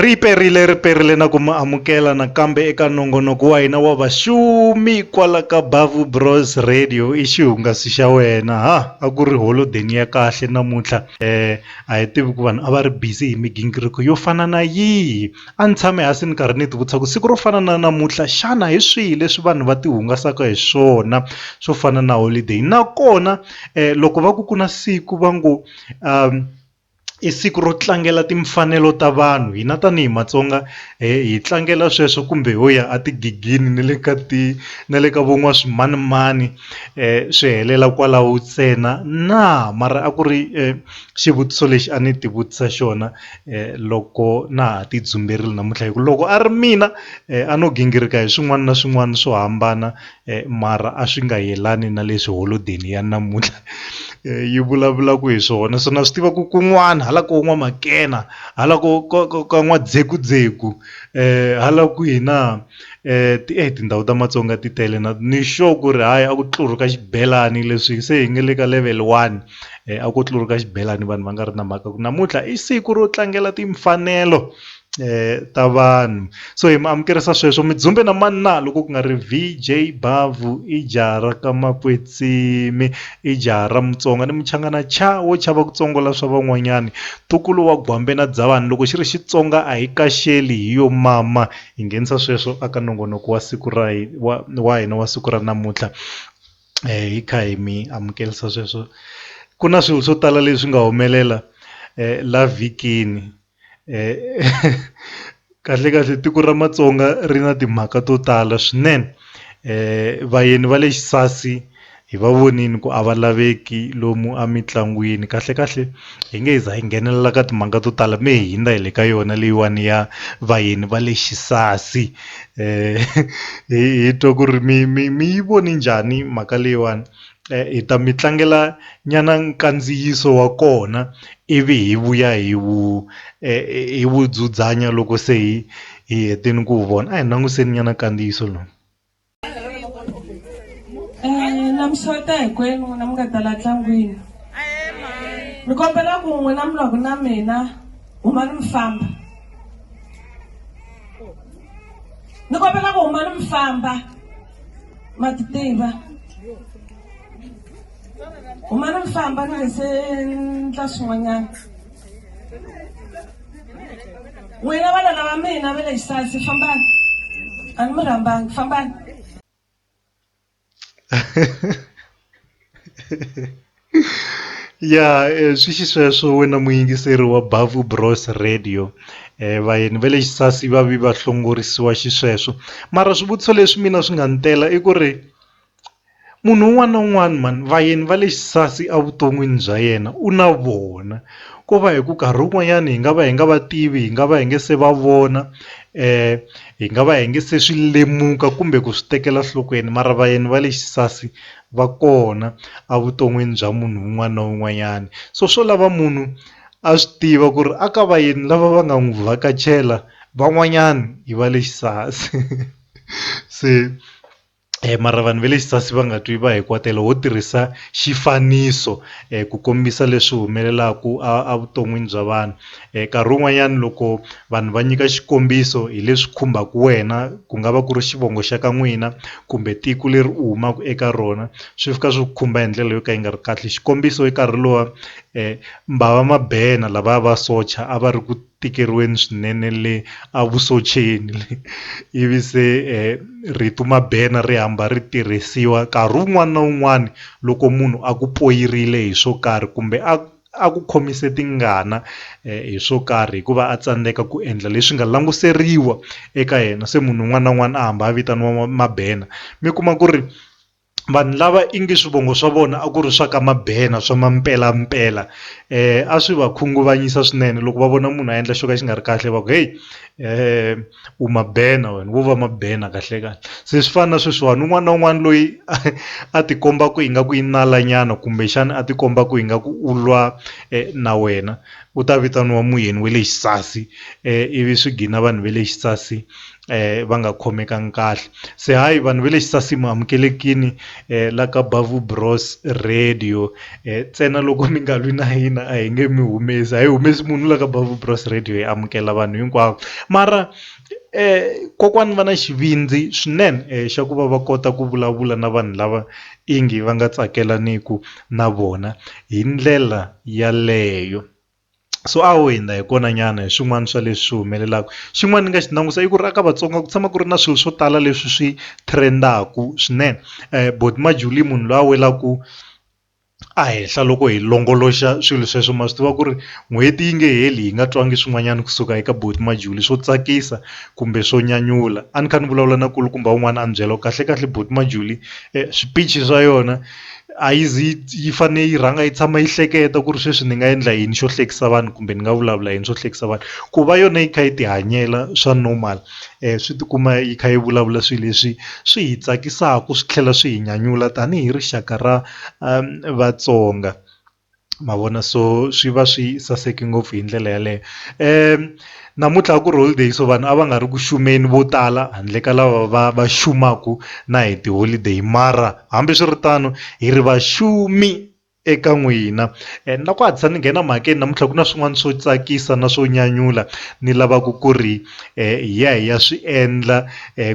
Ri perile, ri perile na ku mi amukela nakambe eka nongonoko wa hina wa vaxumi kwala ka Bavu Bros Radio i xihungasi xa wena ha a ku ri holodeni ya kahle namuntlha eh a hi tivi ku vanhu a va ri busy hi migingiriko yo fana na yihi a ni tshame hansi ni karhi ni ti vutisa ku siku ro fana na namuntlha xana hi swihi leswi vanhu va ti hungasaka hi swona swo fana na holiday nakona loko va ku ku na siku va ngo . i siku ro tlangela timfanelo ta vanhu hina tanihi matsonga hi tlangela sweswo kumbe ho ya a tigigini na le ka ti na le ka vo n'waswimanimani swi helela kwalaho ntsena na mara a ku ri xivutiso lexi a ni ti vutisa xona loko na ha ti dzumberile namuntlha hi ku loko a ri mina a no gingirika hi swin'wana na swin'wana swo hambana. mara a swi nga yelani na leswi holodeni ya namuntlha yi vulavulaka hi swona so na swi tiva ku kun'wana hala koho N'wamakena hala ko ka ka ka N'wadzekudzeki hala kwihi na ti e tindhawu ta Matsonga ti tele na ni sure ku ri hayi a ku tluruka xibelani leswi se hi nga le ka level one a ko tluruka xibelani vanhu va nga ri na mhaka ku namuntlha i siku ro tlangela timfanelo. ta vanhu so hi mi amukerisa sweswo Midzumbe na mani na loko ku nga ri VJ Bhavhu i jaha ra ka Makwetsimi i jaha ra Mutsonga ni Muchangana cha wo chava ku tsongola swa van'wanyani Tukulu wa Gwambe na Dzavani loko xi ri Xitsonga a hi kaxeli hi yo mama hi nghenisa sweswo aka nongonoko wa siku ra wa wa hina wa siku ra namuntlha hi kha hi mi amukelisa sweswo ku na swilo swo tala leswi nga humelela la vhikini. kahle kahle tiko ra matsonga ri na timhaka to tala swinene vayeni va le xisasi hi va vonile ku a va laveki lomu emitlangwini kahle kahle hi nge hi za hi nghenelela ka timhaka to tala mi hi hundza hi le ka yona leyiwani ya vayeni va le xisasi hi twa ku ri mi mi mi yi voni njhani mhaka leyiwani hi ta mi tlangela nyana nkandziyiso wa kona ivi hi vuya hi wu hi wu dzudzanya loko se hi hi hetini ku wu vona a hi languseni nyana nkandziyiso lowu. Navuxota hinkwenu n'wina mi nga ta la ntlangwini ni kombela ku n'wina mi lwaku na mina humani mi famba ni kombela ku humani mi famba. ma ti tiva huma ni mifamba ni nge se ndla swin'wanyana n'wina vana lava mina va le xisasi fambani a ni mi rhambangi fambani ya swi xisweswo wena muyingiseri wa bhavhu bros radio vayeni va le xisasi va vi va hlongorisiwa xisweswo mara swivutiso leswi mina swi nga ni tela i ku ri munhu un'wana na un'wana mhani vayeni va le xisasi evuton'wini bya yena u na vona ko va hi ku karhi wun'wanyani hi nga va hi nga va tivi hi nga va hi nga se va vona Hi nga va hi nga se swi lemuka kumbe ku swi tekela nhlokweni mara vayeni va le xisasi va kona evuton'wini bya munhu un'wana na un'wanyana. So swo lava munhu a swi tiva ku ri a ka vayeni lava va nga n'wi vhakachela van'wanyana i va le xisasi se. mara vanhu va le xisasi va nga twi va hi kwatela ho tirhisa xifaniso ku kombisa leswi humelelaku a vuton'wini bya vanhu nkarhi wun'wanyani loko vanhu va nyika xikombiso hi leswi khumbaku wena ku nga va ku ri xivongo xa ka n'wina kumbe tiko leri u humaku eka rona swi fika swi ku khumba hi ndlela yo ka yi nga ri kahle xikombiso i nkarhi luwa mbhava Mabena lavaya vasocha a va ri ku tikeriweni swinene le a vusoceni le ivi se rito Mabena ri hamba ri tirhisiwa nkarhi wun'wana na wun'wana loko munhu a ku poyirile hi swo karhi kumbe a a ku khomise tingana hi swo karhi hikuva a tsandzeka ku endla leswi nga languseriwa eka yena se munhu un'wana na un'wana a hamba a vitaniwa Mabena mi kuma ku ri. vanhu lava i ngi swivongo swa vona a ku ri swa ka Mabena swa Mampelampela eh a swi va khunguvanyisa swinene loko va vona munhu a endla xo ka xi nga ri kahle va ku heyi eh u Mabena wena wo va Mabena kahle kahle se swi fana na sweswiwani un'wana na un'wana loyi a ti kombaka ingaku i nala nyana kumbexana a ti kombaka ingaku u lwa na wena u ta vitaniwa muyeni wa le xisasi ivi swi gina vanhu va le xisasi va nga khomekangi kahle se hayi vanhu va le xisasi mu amukelekini la ka Bavhu Bros radio ntsena loko mi nga lwi na hina a hi nge mi humesi a hi humesi munhu la ka Bavhu Bros radio hi amukela vanhu hinkwavo mara kokwani va na xivindzi swinene xa ku va va kota ku vulavula na vanhu lava i ngi va nga tsakelaniku na vona hi ndlela yaleyo. so a ho hundza hi kona nyana hi swin'wana swa leswi swi humelelaka xin'wana ni nga xi langusa i ku ri a ka Vatsonga ku tshama ku ri na swilo swo tala leswi swi trend-aku swinene buti Majola i munhu loyi a welaku a henhla loko hi longoloxa swilo sweswo ma swi tiva ku ri n'hweti yi nge heli hi nga twangi swin'wanyana kusuka eka buti Majola swo tsakisa kumbe swo nyanyula a ni kha ni vulavula na nkulukumba wun'wana a ni byela ku kahlekahle buti Majola swiphichi swa yona. a yi zi yi fanele yi rhanga yi tshama yi hleketa ku ri sweswi ni nga endla yini xo hlekisa vanhu kumbe ni nga vulavula yini swo hlekisa vanhu ku va yona yi kha yi ti hanyela swa normal swi tikuma yi kha yi vulavula swilo leswi swi hi tsakisaka swi tlhela swi hi nyanyula tanihi rixaka ra Vatsonga. ma vona so swi va swi saseke ngopfu hi ndlela yaleyo namuntlha a ku ri holiday so vanhu a va nga ri ku xumeni vo tala handle ka lava va va xumaka na hi tiholideyi mara hambiswiritano hi ri va xumi eka n'wina and na ku hatlisa ni nghena mhakeni namuntlha ku na swin'wana swo tsakisa na swo nyanyula ni lavaka ku ri. hi ya hi ya swi endla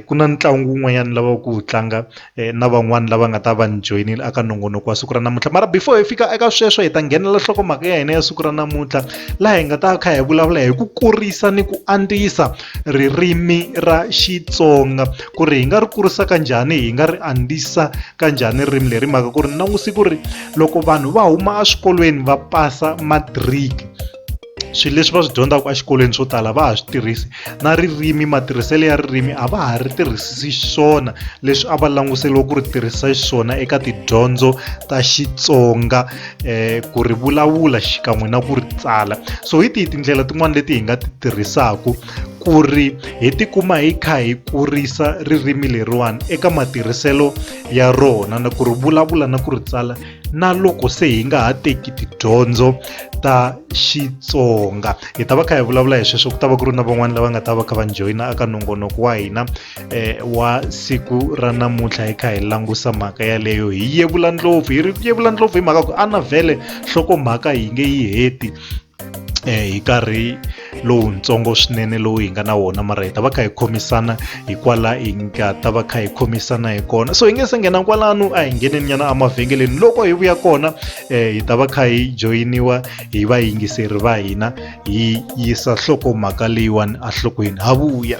ku na ntlangu wun'wanyana wu lavaka ku wu tlanga na van'wani lava nga ta va ni joyinile eka nongonoko wa siku ra namuntlha mara before hi fika eka sweswo hi ta nghenelela nhlokomhaka ya hina ya siku ra namuntlha laha hi nga ta kha hi vulavula hi ku kurisa ni ku andzisa ririmi ra Xitsonga ku ri hi nga ri kurisa ka njhani hi nga ri andzisa ka njhani ririmi leri mhaka ku ri ni languse ku ri loko vanhu va huma eswikolweni va pasa matric swilo leswi va swi dyondzaka exikolweni swo tala va ha swi tirhisi na ririmi matirhiselo ya ririmi a va ha ri tirhisisi xiswona leswi a va languseriwa ku ri tirhisa xiswona eka tidyondzo ta xitsonga um ku ri vulavula xikan'we na ku ri tsala so hi tihi tindlela tin'wani leti hi nga ti tirhisaka ku ri hi tikuma hi kha hi kurisa ririmi leriwani eka matirhiselo ya rona na ku ri vulavula na ku ri tsala na loko se hi nga ha teki tidyondzo ta xitsonga hi ta va kha hi vulavula hi sweswo ku ta va ku ri na van'wana lava nga ta va kha va joyina aka nongonoko wa hina eh, wa siku ra namuntlha hi kha hi langusa mhaka yaleyo hi yevula ndlopfu hi ri yevula ndlopfu hi mhaka ku a na vhele nhlokomhaka yi nge yi heti hi nkarhi lowutsongo swinene lowu hi nga na wona mara hi ta va kha hi khomisana hi kwala hi nga ta va kha hi khomisana hi kona so hi nge se nghena kwalano a hi ngheneni nyana emavhengeleni loko hi vuya kona um hi ta va kha hi joyiniwa hi vayingiseri va hina hi yisa nhlokomhaka leyiwani enhlokweni ha vuya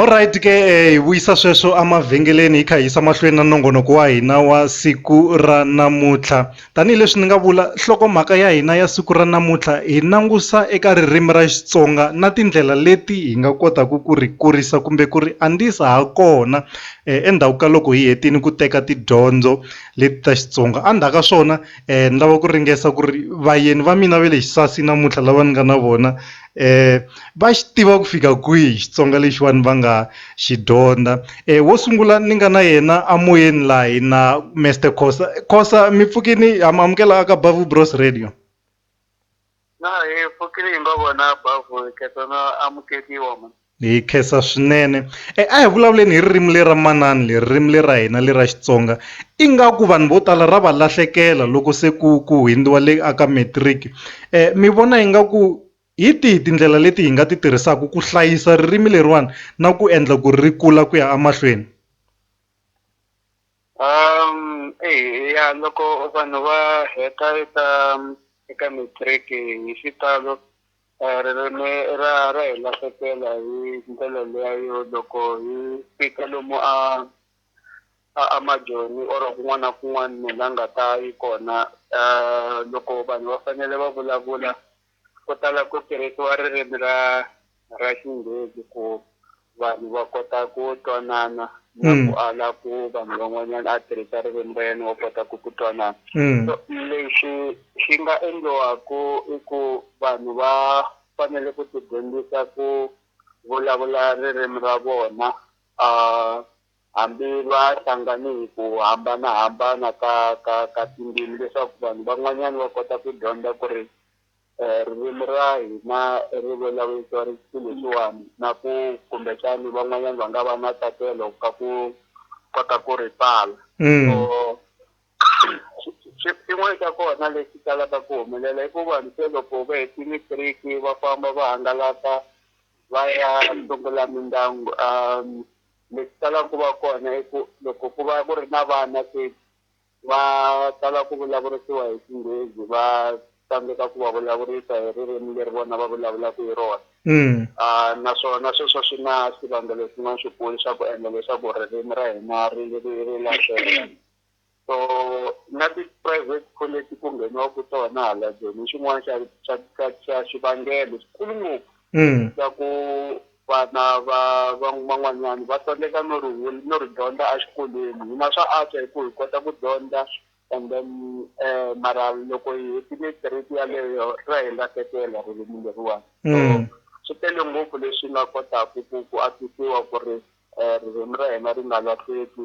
Alright ke hi vuyisa sweswo emavhengeleni hi kha hi yisa mahlweni na nongonoko wa hina wa siku ra namuntlha tanihileswi ni nga vula nhlokomhaka ya hina ya siku ra namuntlha hi langusa eka ririmi ra Xitsonga na tindlela leti hi nga kotaku ku ri kurisa kumbe ku ri andzisa ha kona endzhaku ka loko hi hetini ku teka tidyondzo leti ta Xitsonga endzhaku ka swona ni lava ku ringesa ku ri vayeni va mina va le Xisasi namuntlha lava ni nga na vona eh va xi tiva ku fika kwihi Xitsonga lexiwani va nga xi dyondza eh wo sungula ni nga na yena a moyeni la hi na Mister Khosa Khosa mi pfukini ha mi amukela ka Bavu Bros Radio na hi pfukile hi nga vona Bavu khetsa na amukeliwa Hi khensa swinene e a hi vulavuleni hi ririmi le ra manana leri ririmi le ra hina le ra Xitsonga ingaku vanhu vo tala ra va lahlekela loko se ku ku hundziwa le a ka matric mi vona ingaku hi tihi tindlela leti hi nga ti tirhisaka ku hlayisa ririmi leriwani na ku endla ku ri kula ku ya emahlweni. Um, eh, ya loko vanhu va heta eka eka matric hi xitalo eh, ririmi ra ra hi lahlekela hi ndlela leya yo loko hi fika lomu a a a majoni or kun'wana na kun'wana munhu la nga ta yi kona um loko vanhu va fanele va vulavula Ku tala ku tirhisiwa ririmi ra ra Xinghezi ku vanhu va kota ku twanana na ku mm. ala ku vanhu van'wanyana a tirhisa ririmi ra yena wa kota ku ku twanana mm. so lexi xi nga endliwaku i ku vanhu va fanele ku tidyondzisa ku vulavula ririmi ra vona um hambi va hlangane hi ku hambanahambana ka ka ka tindzimi leswaku vanhu van'wanyana va kota ku dyondza ku ri um ririmi ra hina ri vulavurisiwa ri siku leswiwani na ku kumbexani van'wanyana va nga va na tsakelo ka ku kota ku ri tsala so xin'wana xa kona lexi talaka ku humelela i ku vanhu se loko va heti matric va famba va hangalaka va ya sungula mindyangu . lexi talaka ku va kona i ku loko ku va ku ri na vana se va tala ku vulavurisiwa hi xinghezi va tsandzeka ku va vulavurisa hi ririmi leri vona va vulavulaka hi rona mm. ah, naswona sweswo swi na swivangelo swin'wana swikulu swa ku endla leswaku ririmi ra hina ri ri ri lahleka so na ti-private college ku ngheniwaku tona hala ndzeni xin'wana xa xa xa xa xivangelo xikulu ngopfu mm. xa ku vana va van'wanyana va tsandzeka no ri no ri dyondza exikolweni hina swa antswa hi ku hi kota ku dyondza and then um mara loko hi hetile grade yaleyo ra hi lahlekela ririmi leriwani so mm. swi tele ngopfu leswi nga kotaku ku ku atisiwa ku ri um ririmi ra hina ri nga lahleki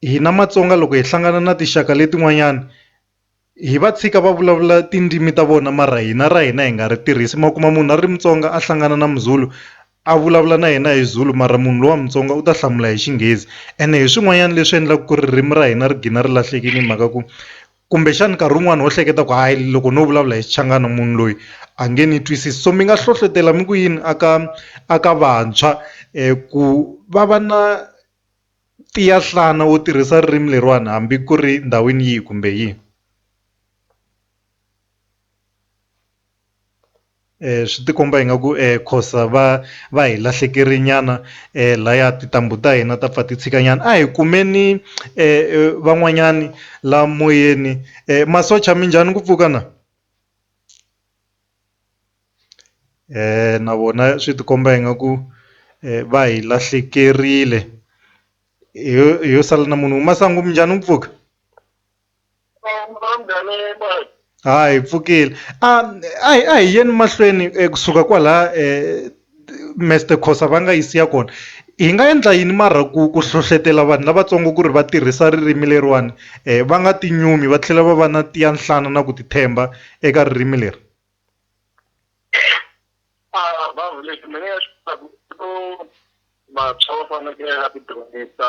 hina Matsonga loko hi hlangana na tinxaka letin'wanyani hi va tshika va vulavula tindzimi ta vona mara hina ra hina hi nga ri tirhisi ma kuma munhu a ri Mutsonga a hlangana na Muzulu a vulavula na yena hi Zulu mara munhu lowa Mutsonga u ta hlamula hi Xinghezi ene hi swin'wanyana leswi endlaka ku ririmi ra hina ri gina ri lahlekile hi mhaka ku kumbexana nkarhi wun'wani ho hleketa ku hayi loko no vulavula hi Xichangana munhu loyi a nge ni twisisi so mi nga hlohlotela mi ku yini a ka a ka vantshwa ku va va na Tiya nhlana u tirhisa ririmi leriwani hambi ku ri ndhawini yihi kumbe yihi swi ti komba ingaku khosa va va hi lahlekele nyana laya tintambu ta hina ta pfa ti tshika nyana a hi kumeni van'wanyani la moyeni masocha minjhani ku pfuka na. na vona swi ti komba ingaku va hi lahlekerile hi yo sala na munhu masangu minjhani mpfhuka ha hi pfukile a hi yeni mahlweni kusuka kwala . Mister Khosa va nga yi siya kona hi nga endla yini mara ku ku hlohlotelo vanhu lavatsongo ku ri va tirhisa ririmi leriwani va nga ti nyumi va tlhela va va na ti ya nhlana na ku ti tshemba eka ririmi leri vantshwa va fanekele va ti dyondzisa.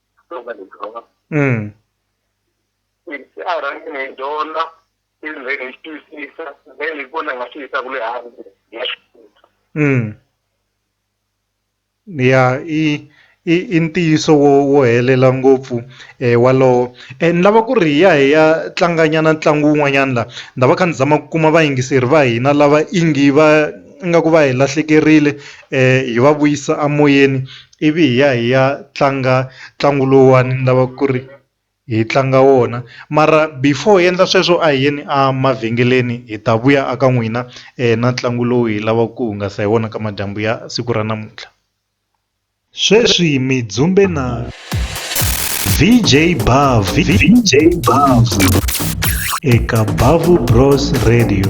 Mm. se a rhangi ni yi dyondza i ndzeni hi twisisa then hi kona hi nga swi yisaka le hansi hi ya swi kota Mm. ya i i i ntiyiso wo wo helela ngopfu eh walowo eh ni lava ku ri hi ya hi ya tlanganyana ntlangu wun'wanyana la ni ta va kha ni zama ku kuma vayingiseri va hina lava ingi va ingaku va hi lahlekerile eh hi va vuyisa amoyeni ivi hi ya hi ya tlanga ntlangu lowuwani ni lava ku ri hi tlanga wona mara before hi endla sweswo a hi yeni a mavhengeleni hi ta vuya a ka n'wina na ntlangu lowu hi lavaka ku hungasa hi wona ka madyambu ya siku ra namuntlha sweswi mi dzumbe na VJ Bav VJ Bav eka Bavu Bros Radio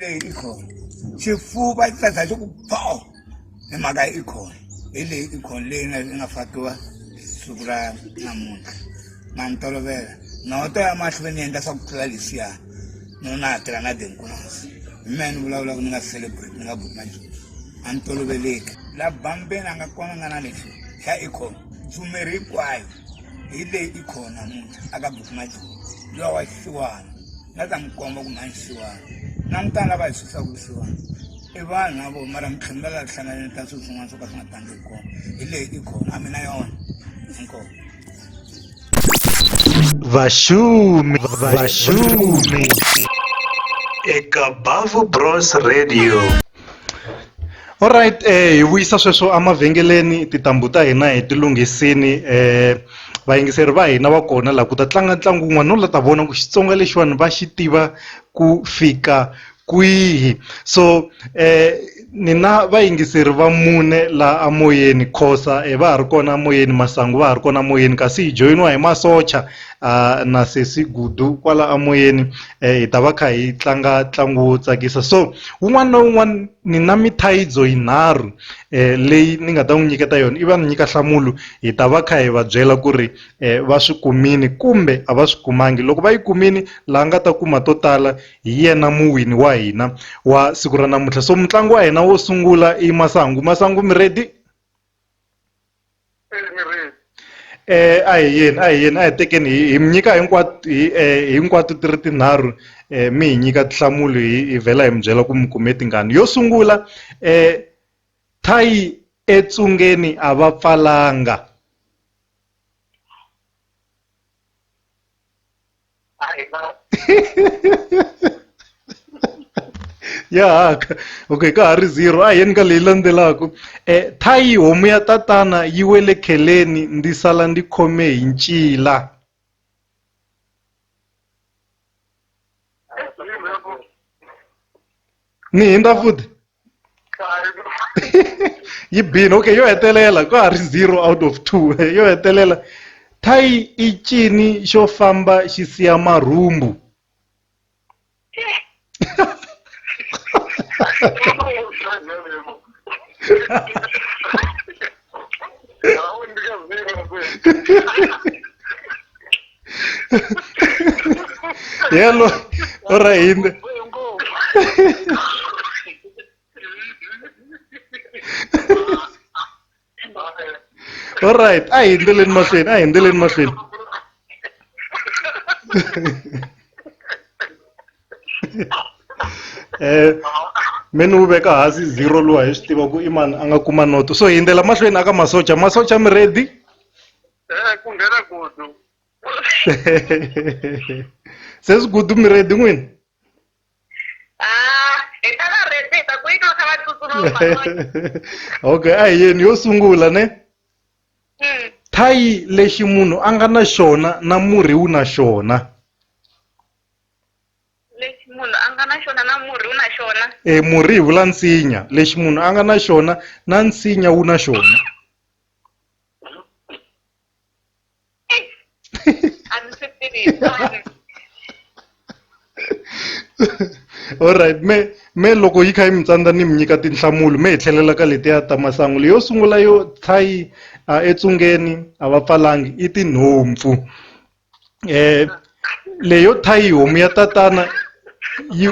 leyi i khona xifuva i tsatsa xi ku pho hi mhaka i khona hi leyi i khona leyi nga nga fakiwa siku ra namuntlha na ni tolovela noto ya mahlweni ni endla swa ku tlula leswiya no na ha tirha na denkunasi hi mehe ni vulavulaka ni nga celebrate ni nga buki na nchumu a ni toloveleki la bambeni a nga kona nga na lexi xa i khona tshumeri hinkwayo hi leyi i khona namuntlha a ka buki na nchumu lowa xiwana nga ta mi komba ku mhani xiwani langutani lava hi susaku xiwani i vanhu na vo mara mi tlhela mi lava hlanganeni ka swilo swin'wana swo ka swi nga tangi hi kona hi leyi i khona a mi na yona inkomo vashumi vashumi eka bavo bros radio Alright hi vuyisa sweswo emavhengeleni tintambu ta hina hi ti lunghisini vayingiseri va hina va kona la ku ta tlanga ntlangu wun'wana no la ta vona ku Xitsonga lexiwani va xi tiva ku fika kwihi so ni na vayingiseri va mune la a moyeni Khosa va ha ri kona moyeni Masangu va ha ri kona moyeni kasi hi joyiniwa hi masocha na sesi Gudu kwala a moyeni hi ta va kha hi tlanga ntlangu wo tsakisa so wun'wana na wun'wana ni na mithayidzo yinharhu um leyi ni nga ta n'wi nyiketa yona i va ni nyika nhlamulo hi ta va kha hi va byela ku ri um va swi kumini kumbe a va swi kumangi loko va yi kumini la nga ta kuma to tala hi yena muwini wa hina wa siku ra namuntlha so mutlangi wa hina wo sungula i masangu masangu mi ready emirini eh a hi yini a hi yini a hi tekeni hi hi mi nyika hinkwato hi eh, hinkwato ti ri tinharhu eh, mi hi nyika tinhlamulo hi hi vhela hi mi byela ku mi kume tingani yo sungula eh, thayi etsungeni a va pfalanga ya haka okay ka ha ri zero a yeni ka leyi landzelaka um eh, thayi homu ya tatana yi we le kheleni ndzi sala ndzi khome hi ncila ni hindza futhi yi bini okay yo hetelela ka ha ri zero out of two yo hetelela thayi i cini xo famba xi siya marhumbu yalo o ra hinde all right a hi endleleni mahlweni a hi endleleni mahlweni eh me ni wu veka hansi zero luwa hi swi tiva ku i mani a nga kuma noto so hi yindzela mahlweni aka masocha masocha mi ready eh ku nghena gudu se swi gudu mi ready n'wini ah, okay a hi yeni yo sungula ne hmm. thayi lexi munhu a nga na xona na murhi wu na xona lexi munhu a nga na xona na murhi wu na xona e murhi hi vula nsinya lexi munhu a nga na xona na nsinya wu na xona a ni swi tivi alright me me loko yi kha yi mi tsandza ni mi nyika tinhlamulo me hi tlhelela ka letiya ta masangu leyo sungula yo thayi a etsungeni a va pfalangi i tinhompfu eh leyo thayi homu ya tatana yi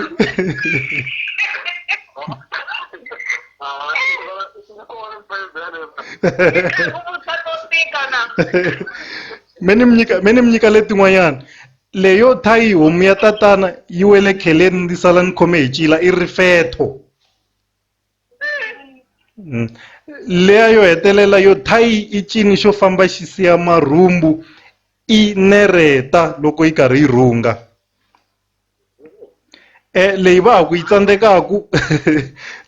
me ni mi nyika me ni mi nyika letin'wanyana leyo thayi homu ya tatana yi wele kheleni ndzi sala ni khome hi cila i rifetho Leya yo hetelela yo thayi i cini xo famba xi siya marhumbu i nereta loko yi karhi yi rhunga e leyi va ha ku yi tsandzekaku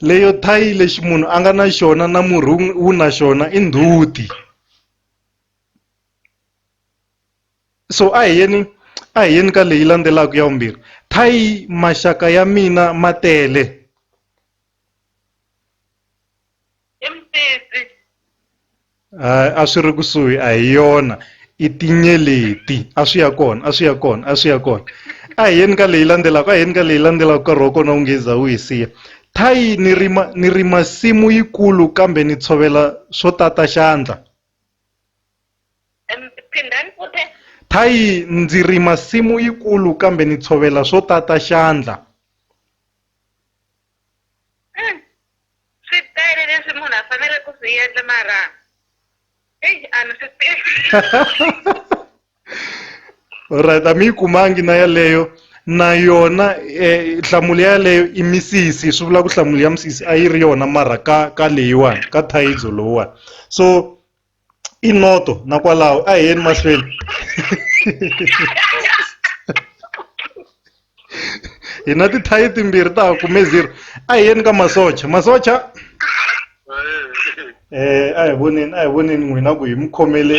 leyo thayi lexi munhu a nga na xona na murhi wu na xona i ndzhuti so a hi yeni a hi yeni ka leyi landzelaka ya vumbirhi thayi maxaka ya mina ma tele. i mutisi a swi ri kusuhi a hi yona i tinyeleti a swi ya kona a swi ya kona a swi ya kona a hi yeni ka leyi landzelaka a hi yeni ka leyi landzelaka nkarhi wa kona wu nge za wu hi siya thayi ni rima ni rima simu yikulu kambe ni tshovela swo tata xandla phindani futhi thayi ndzi rima simu yikulu kambe ni tshovela swo tata xandla Mm. swi tele leswi munhu a fanele ku swi endla mara eyi a ni swi tivi right a mi yi kumangi na yaleyo na yona eh, nhlamulo yaleyo i misisi swi vula ku nhlamulo ya misisi a yi ri yona mara ka ka leyiwani ka thayidzo lowuwani so i noto na kwalaho a hi yeni mahlweni hi na tithayi timbirhi ta ha kume zero a hi yeni ka masocha masocha eh a hi voneni a hi voneni n'wina ku hi mi khomele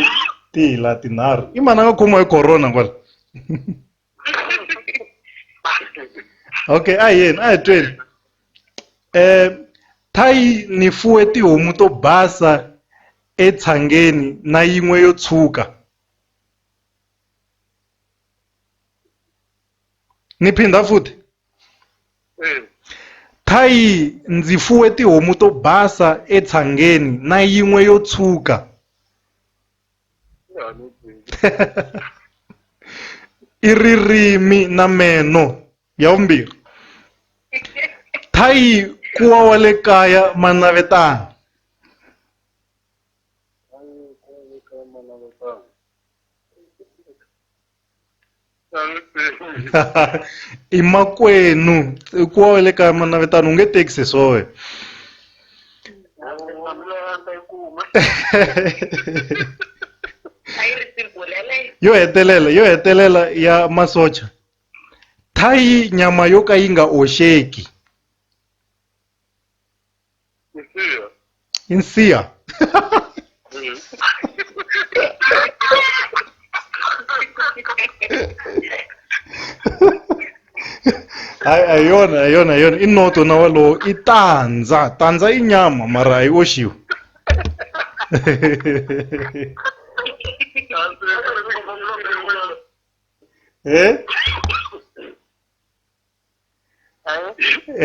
tihla tinharhu i mani a nga khomiwa hi corona kwala okay a hi yeni a hi tweni eh thayi ni fuwe tihomu to basa etshangeni na yin'we yo tshuka ni phinda futhi hmm. thayi ndzi fuwe tihomu to basa etshangeni na yin'we yo tshuka i ririmi na meno ya vumbirhi thayi kuwa wa le kaya manavetana i makwenu i ku wa le ka manavetano u nge tekisi swoe yo hetelela yo hetelela ya masocha thayi nyama yo ka yi nga oxeki Insiya. insiya hayi a hi yona a hi yona a hi yona i noto na walowo i tandza tandza i nyama mara a yi oxiwi e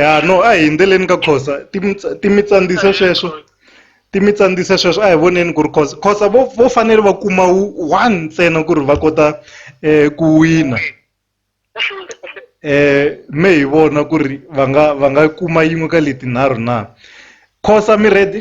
ya no a hi yindzeleni ka khosa ti mi ti mi tsandzisa sweswo ti mi tsandzisa sweswo a hi voneni ku ri khosa khosa vo vo fanele va kuma one ntsena ku ri va kota um ku wina um me hi vona ku ri va nga va nga kuma yin'we ka letinharhu na khosa mi ready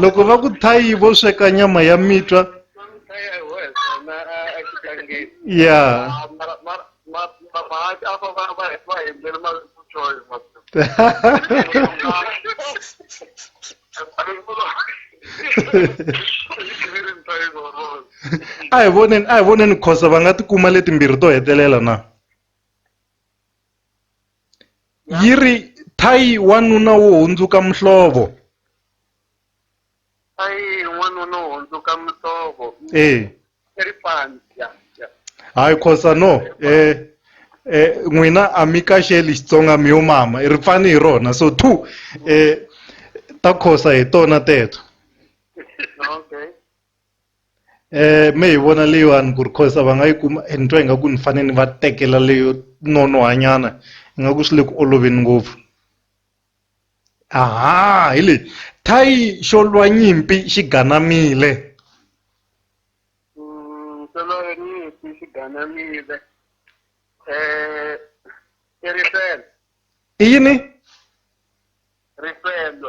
loko va ku thayi vo sweka nyama ya mitwa ya a hi voneni a hi voneni khosa va nga tikuma letimbirhi to hetelela na yi ri thayi wanuna wo hundzuka muhlovo thayi wanuna wo hundzuka muhlovo eh ri fani ya hayi khosa no eh eh n'wina a mi kaxeli xitsonga mi yo mama ri pfani hi rona so two eh ta khosa hi tona teto me hi vona leyiwani ku ri cause a va nga yi kuma ni twa ingaku ni fane ni va tekela leyo nonoha nyana ingaku swi le ku oloveni ngopfu aha hi leyi thayi xo lwa nyimpi xi ganamile mm, xo lwa nyimpi xi ganamile um i rifelo i yini rifelo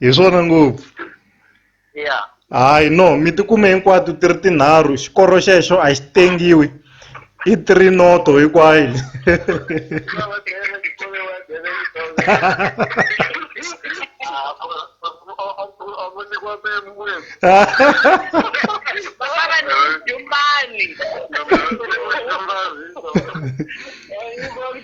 hi swona ngopfu ya hayi no mi tikume hinkwato ti ri tinharhu xikoro xexo a xi tengiwi i three noto hinkwayo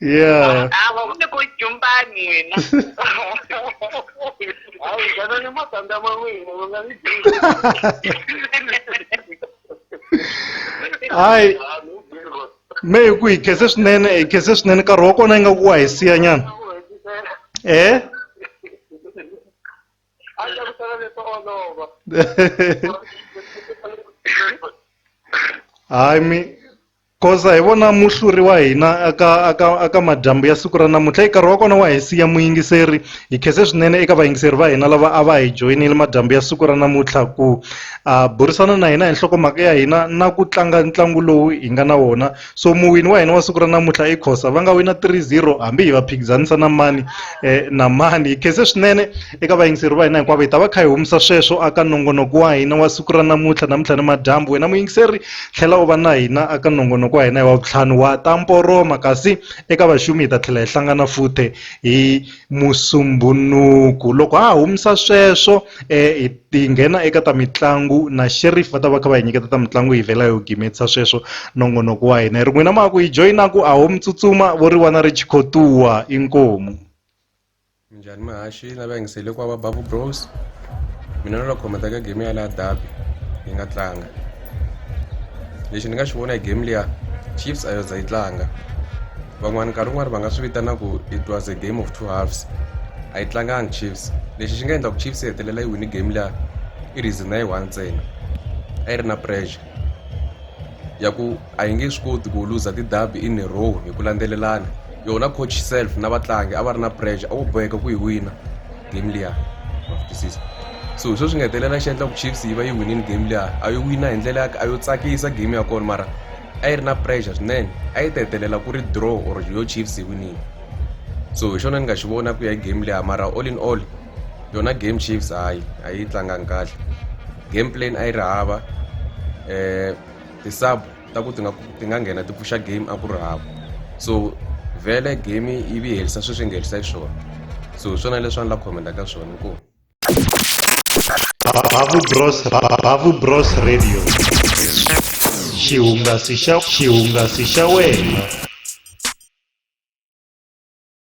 Yeah. Ava une ko jumbani wena. Awu jana ni matanda mawini unga ni. Hayi. Me hi ku hi khese swinene hi khese swinene nkarhi wa kona yi nga ku wa hi siya nyana. Eh? Aja ku tala le tolova. Hayi mi Goza hi vona muhluri wa hina aka, aka, aka madyambu ya siku ra namuntlha. Nkarhi wa kona wa hi siya muyingiseri. Hi khense swinene eka vayingiseri va hina lava a va hi joyinile madyambu ya siku ra namuntlha ku a burisana na hina hi nhlokomhaka ya hina na ku tlanga ntlangu lowu hi nga na wona. So muwini wa hina wa siku ra namuntlha i Khosa. Va nga wina 3-0 hambi hi va phikizanisa na mani eh, na mani. Hi khense swinene Eka vayingiseri va hina hinkwavo hi ta va kha hi humisa sweswo aka nongonoko wa hina wa siku ra namuntlha namuntlha ni madyambu wena muyingiseri tlhela u va na hina aka nongonoko wa hina hi wa vutlhanu wa ta mporoma kasi eka vaxumi hi ta tlhela hi hlangana futhe hi musumbunuku loko ha ha humisa sweswo um hi nghena eka ta mitlangu na sherif va ta va kha va hi nyiketa ta mitlangu hi vhela hi wu gimetisa sweswo nongonoko wa hina hi ri n'wina ma ku hi joyinaku a ho mi tsutsuma vo ri wana ri chikhotuwa inkomu minjhani muhaxi na va yingisele ku va va bavu bros mina na loko khometa ka game ya laha dabi yi nga tlanga lexi ni nga xi vona hi game liya chiefs a yo za yi tlanga van'wana nkarhi wun'wana va nga swi vitana ku it was a game of two halves a yi tlanganga chiefs lexi xi nga endla ku chiefs yi hetelela yi wini game liya i reason na yi one ntsena a yi ri na pressure ya ku a hi nge swi koti ku luza ti-derby in a row hi ku landzelelana yona coach self na vatlangi a va ri na pressure a vo boheka ku yi wina game liya twisisa so hi swo swi nga hetelela xi endlaku chiefs yi va yi winini game liya a yo wina hi ndlela ya a yo tsakisa game ya kona mara a yi ri na pressure swinene a yi ta hetelela ku ri draw or yo chiefs yi winini so hi xona ni nga xi vona ku ya hi game liya mara all in all yona game chiefs hayi a yi tlangangi kahle game plan a yi ri hava um ti-sub ta ku ti nga ti nga nghena ti pfuxa game a ku ri hava so vhele game yi vi herisa sweswi yi nga herisa xiswona so hi swona leswi a ni la khomenda ka swona inkomu Babu Bros Babu Bros Radio xihungasi xa xihungasi xa wena